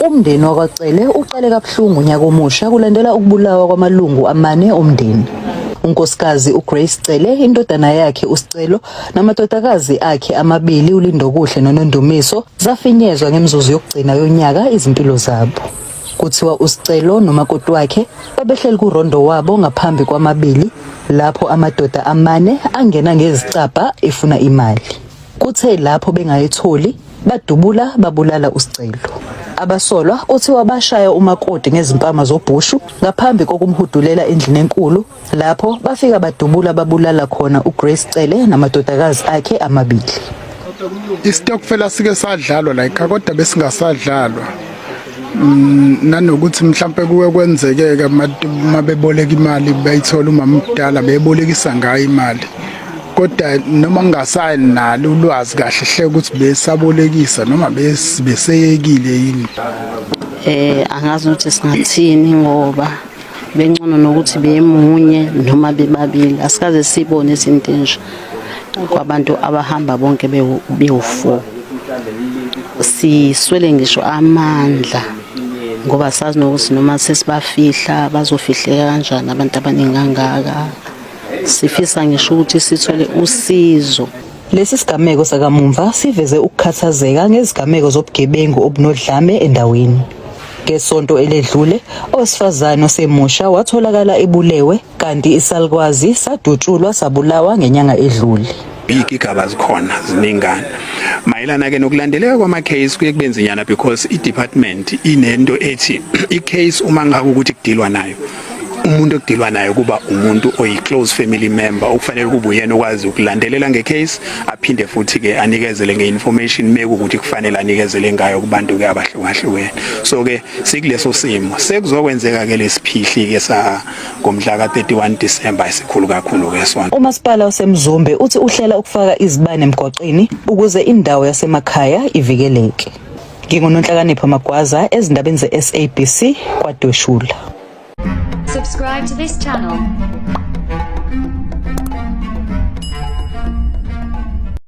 Umndeni wakwaCele uqale kabuhlungu unyaka omusha kulandela ukubulawa kwamalungu amane omndeni. uNkosikazi uGrace Cele, indodana yakhe uSicelo namadodakazi akhe amabili uLindokuhle noNondumiso zafinyezwa ngemizuzu yokugcina yonyaka izimpilo zabo. Kuthiwa uSicelo nomakoti wakhe babehleli kurondo wabo ngaphambi kwamabili lapho amadoda amane angena ngezicabha efuna imali. Kuthe lapho bengayitholi badubula babulala uSicelo. Abasolwa kuthiwa bashaya umakoti ngezimpama zobhushu ngaphambi kokumhudulela endlini enkulu lapho bafika badubula babulala khona uGrace Cele namadodakazi akhe amabili. Isitokfela sike sadlalwa la ekhaya kodwa besingasadlalwa. Mm, nanokuthi mhlawumpe kuwe kwenzekeke uma beboleka imali bayithola umama omdala bebolekisa ngayo imali kodwa noma ngingasayini nalo ulwazi kahle hle ukuthi besabolekisa noma beseyekile yini eh angazi ukuthi singathini ngoba bencono nokuthi bemunye noma bebabili asikaze sibone izinto enje kwabantu abahamba bonke bewu-four siswele ngisho amandla ngoba sazi nokuthi noma sesibafihla bazofihleka kanjani abantu abaningi kangaka sifisa ngisho ukuthi sithole usizo Lesi sigameko sakamumva siveze ukukhathazeka ngezigameko zobugebengu obunodlame endaweni. Ngesonto eledlule, owesifazane osemusha watholakala ebulewe kanti isalukwazi sadutshulwa sabulawa ngenyanga edlule. big igaba zikhona ziningana mayelana ke nokulandeleka kwama case kuye kubenzinyana because i department inento ethi i case uma ngabe ukuthi kudilwa nayo umuntu okudilwa naye kuba umuntu oyi-close family member okufanele kube uyena okwazi ukulandelela ngecase aphinde futhi-ke anikezele nge-information mekukuthi kufanele anikezele ngayo kubantu-ke abahlukahlukene so-ke sikuleso simo sekuzokwenzeka-ke lesiphihli-ke sa ngomhla ka-31 disemba esikhulu kakhulu-ke sona umasipala wasemzumbe uthi uhlela ukufaka izibane emgwaqeni ukuze indawo yasemakhaya ivikeleke Ngingunonhlakanipho Magwaza ezindabeni ze-SABC kwaDweshula. Subscribe to this channel.